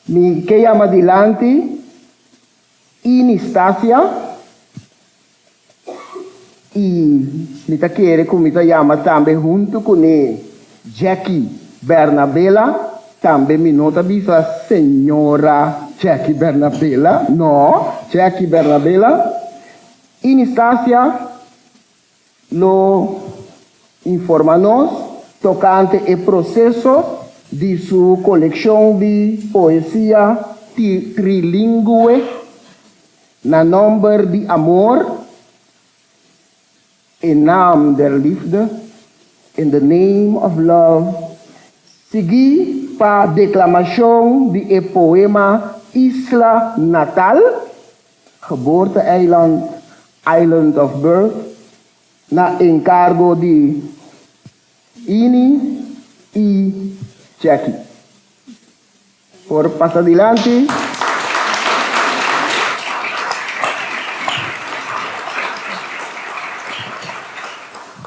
Mi ke yama dilanti Ini Stasia i mi ta kere ku mi ta yama tambe huntu kuné Jackie Bernabela, tambe mi no ta bisa Señora Jackie Bernabela, no, Jackie Bernabela, Ini Stasia. Lo informa nos tokante e proseso di su kolekshon di poesia trilingüe Na nomber di amor, E naam der liefde, In the name of love, sigui pa deklamashon di e poema Isla Natal. Geboorte-eiland, Island of Birth, na encargo di Ini y Jackie. Por pasa dilanti.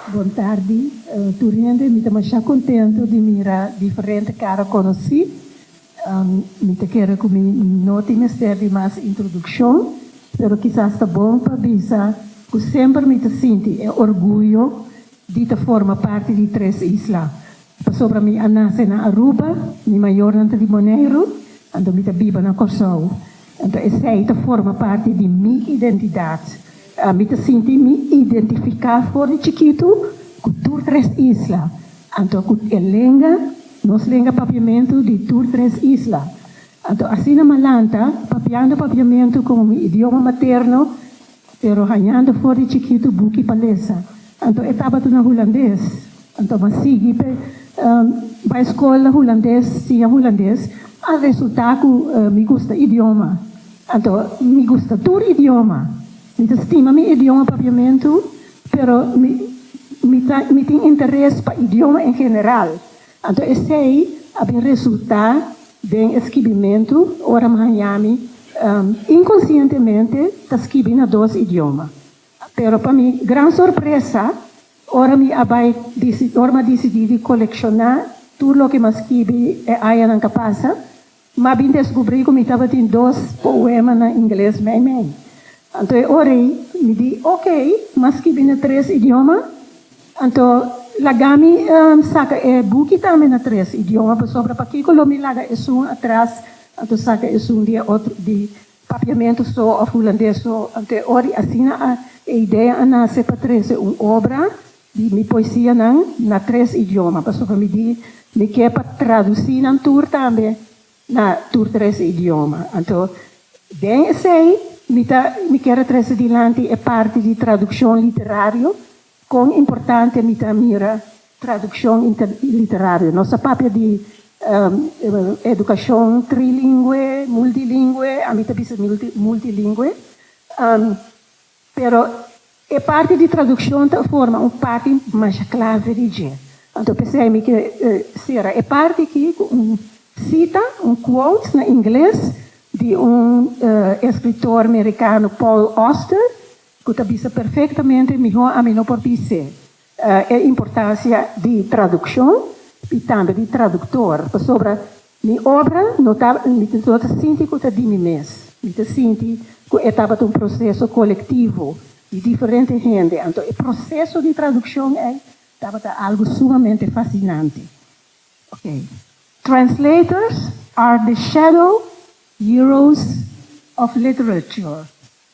Bon tardi tur hende, mi ta masha contento di mira diferente cara conoci Mi ta kere ku mi no tin mester di mas introdukshon, pero kisas ta bon pa bisa ku semper mi ta sinti e orguyo di ta forma parti di Tres Isla. Pasobra mi a nase na Aruba, mi mayornan ta di Boneiru, anto mi ta biba na Kòrsou. Anto esei ta forma parti di mi identidat. Mi ta sinti mi identifiká for di chikitu ku tur tres isla, anto ku e lenga, nos lenga papiamentu di tur tres isla. Anto asina malanta, papiando papiamentu komo mi idioma materno, Pero hañando for di chikitu buki pa lesa. Anto e tabata na hulandes. Anto bo a sigui p'e bai skol na hulandes, siña hulandes. A resulta ku mi gusta idioma. Anto mi gusta tur idioma. Mi ta stima mi idioma papiamentu, pero mi mi tin interes pa idioma en general. Anto esei a bin resultá den e skibimentu ora Mahanjami inkonsientemente ta skibi na dos idioma. Pero pa mi gran sorpresa, ora mi a bai ora mi a disidí di kolekshoná tur loke mi a skibi e añanan ta pasa, Mi a bin descubri cu mi tabatin dos poema na Ingles meimei. Anto e ora ei mi di ok, mi a skibi na tres idioma. Anto lagami saca e buki tambe na tres idioma, pasobra pakico lo mi laga esun atras, anto saca esun di e otro di. Papiamentu so of hulandes so. Te ora asina a e idea a nace pa trece un obra di mi poesianan na tres idioma. Pasobra mi di mi ke pa traduci nan tur tambe na tur tres idioma. Anto den esey mi ta mi kier a trece dilanti e parti di traduccion literario. Kon importante mi ta mira tradukshon interliterario? Nos ta papia di edukashon trilingwe, multilingwe, a mi ta bisa multilingwe, pero e parti di tradukshon ta forma un parti masha klave di dje. Anto p'esei mi ke sera e parti aki ku un sita, un quote na ingles, di un eskritor merikano Paul Auster, Cu ta bisa perfectamente miho ami no por dice e importancia di traduccion y tambe di traductor, pasobra mi obra no ta, mi no ta sinti cu ta di mi mes, mi ta sinti cu e tabata un proceso colectivo di diferente hende, anto e proceso di traduccion ey tabata algo sumamente fascinante. Ok. Translators are the shadow heroes of literature.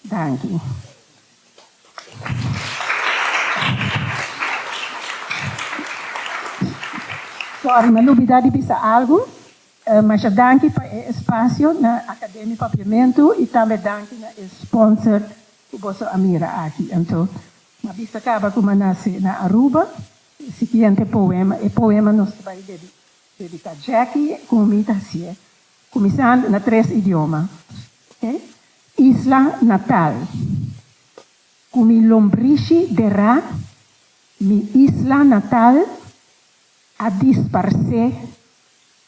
Danki. Sorry, mi a lubida di bisa algu. Masha danki pa e espasio na Academia Papiamentu i tambe danki na e sponsor ku boso a mira aki. Anto, mi a bisa kaba ku mi a nase na Aruba. E siguiente poema, e poema nos ta bai dediká Jackie ku mi ta hasié kuminsando na tres idioma. Oke. Isla Natal, Cu mi lombrishi de ra, mi isla natal a disparse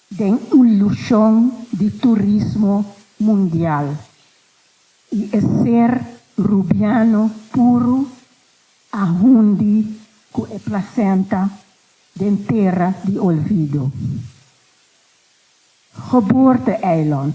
den ilusion di turismo mundial y e ser Rubiano puru a hundi cu e placenta den tera di olvido. Geboorte-eiland.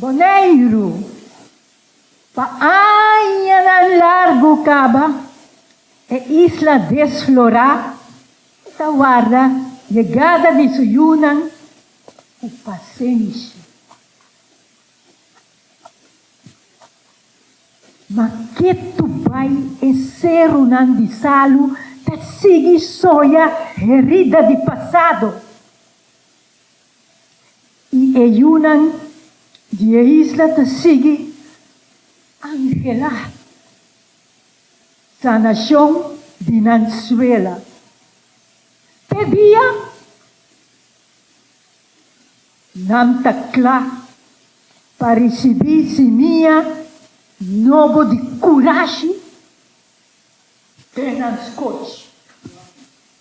Boneiru, Pa añanan largu kaba e isla desflorá ku ta warda yegada di su yunan ku pasenshi. Ma ke tu bai e serunan di salu ta sigui soya herida di pasado? I e yunan di e isla ta sigui anhelá sanashon di nan suela. Te dia nan ta kla pa risibí simia nobo di kurashi den nan skochi.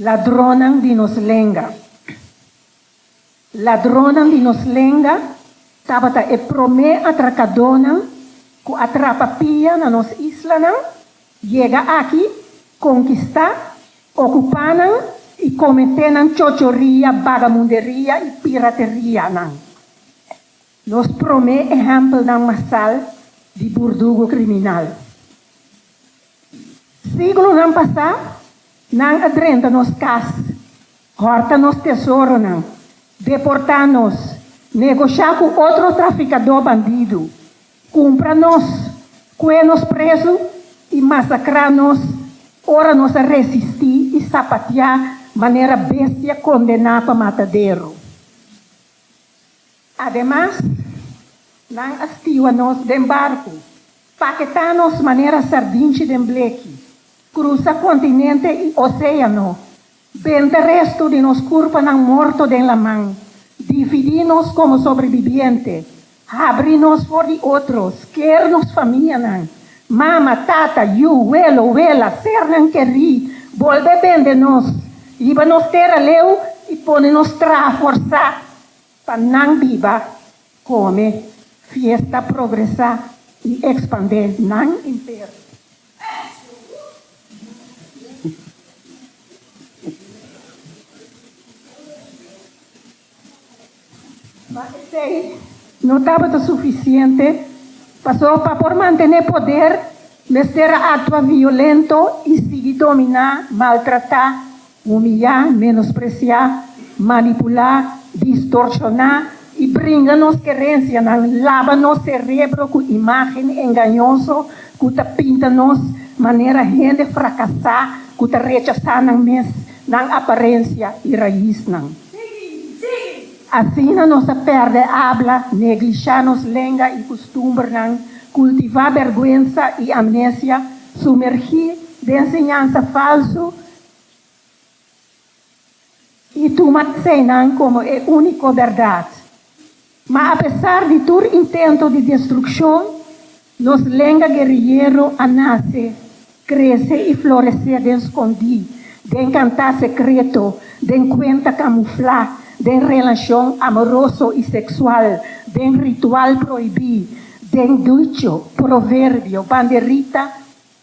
Ladronnan di nos lenga. Ladronnan di nos lenga tabata e promé atrakadónan ku a trapa pia na nos islanan, yega aki, konkistá, okupá nan i kometé nan chochoria, bagamunderia i piraterianan. Nos promé ehèmpelnan masal di burdugo kriminal. Siglonan pasá Nan a drenta nos cas, horta nos tesoronan, deportá nos, negoshiá ku otro trafikadó bandidu, kumpra nos, kue nos prezu i masakrá nos ora nos a resistí i sapatiá manera bestia kondená pa mataderu. Ademas, nan a stiwa nos den barku, paketá nos manera sardinchi den bleki, krusa kontinente i oséano, benta restu di nos kurpanan morto den laman, dividí nos komo sobrebibiente, habri nos for di otros, ker nos famianan, mama, tata, yu, welo, wela, sernan kerí, bolbe bende nos, yiba nos tera leu i pone nos traha forsá. Pa nan biba, kome, fiesta, progresá i ekspandé nan imperio. Ma esei no tabata sufisiente, paso pa por mantené poder mester a aktua violento i sigui dominá, maltratá Humiliá, menospresiá, manipulá, distorsioná i bringa nos kerensianan laba nos serebro ku imágen engañoso ku ta pinta nos manera hende frakasá ku ta rechasá nan mes, nan aparensia i raisnan. Asina nos ta pèrdè abla, neglishá nos lenga i kustumbernan, kultivá bèrgwensa i amnesia, sumergí den enseñansa falsu, I tuma eseinan komo e úniko bèrdat. Ma apesar di tur intento di destrukshon, nos lenga gueriyero a nase, krese i floresé den skondí, den kantá sekreto, den kuenta kamuflá, den relashon amoroso i seksual, den ritual proibí, den ducho, proverbio, banderita,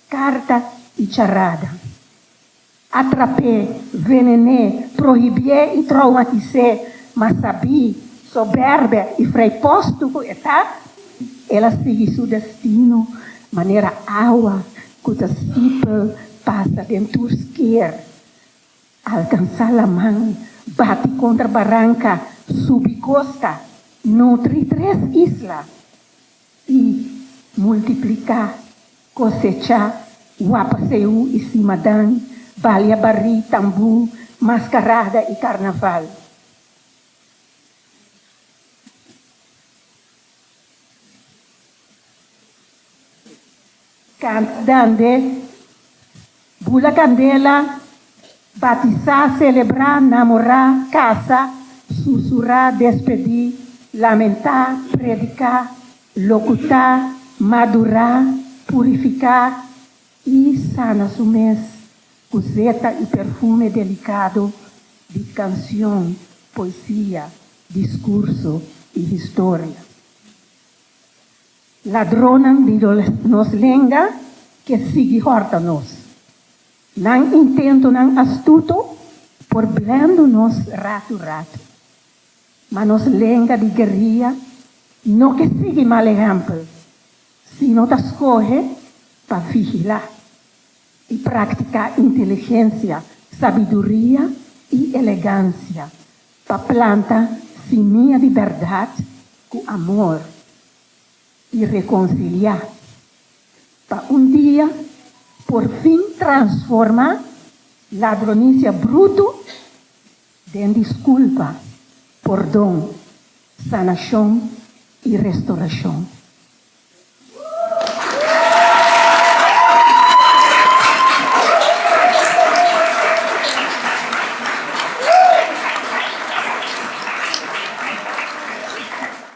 Karta i charada. Atrap'é, venen'é, prohibi'é i troumatis'é, ma sabí, soberbia i vrijpostu ku e ta, el a sigui su destino manera awa ku ta sipel pasa den tur skeer, alkansá laman, bati kontra baranka, subi kosta, nutri tres isla. I multipliká, kosechá, wapa Seú i stima Dan, balia barí, tambú, maskarada i karnaval. Kant dende, bula kandela, batisá, selebrá, namorá, kasa, susurá, despedí, lamentá, prediká, lokutá, madurá, purifiká i sana su mes ku zeta i perfume delikado di kansion, poesia, diskurso i historia. Ladronnan di nos lenga ke sigui hòrta nos. Nan intentonan astuto por blendu nos ratu ratu. Ma nos lenga di gueria no ke sigui mal ehèmpel, sino ta skohe pa vigilá i praktiká inteligensia, sabiduria i elegansia pa planta simia di bèrdat ku amor i rekonsiliá, pa un dia por fin transformá ladronisia brutu den diskulpa, pordon, sanashon i restorashon.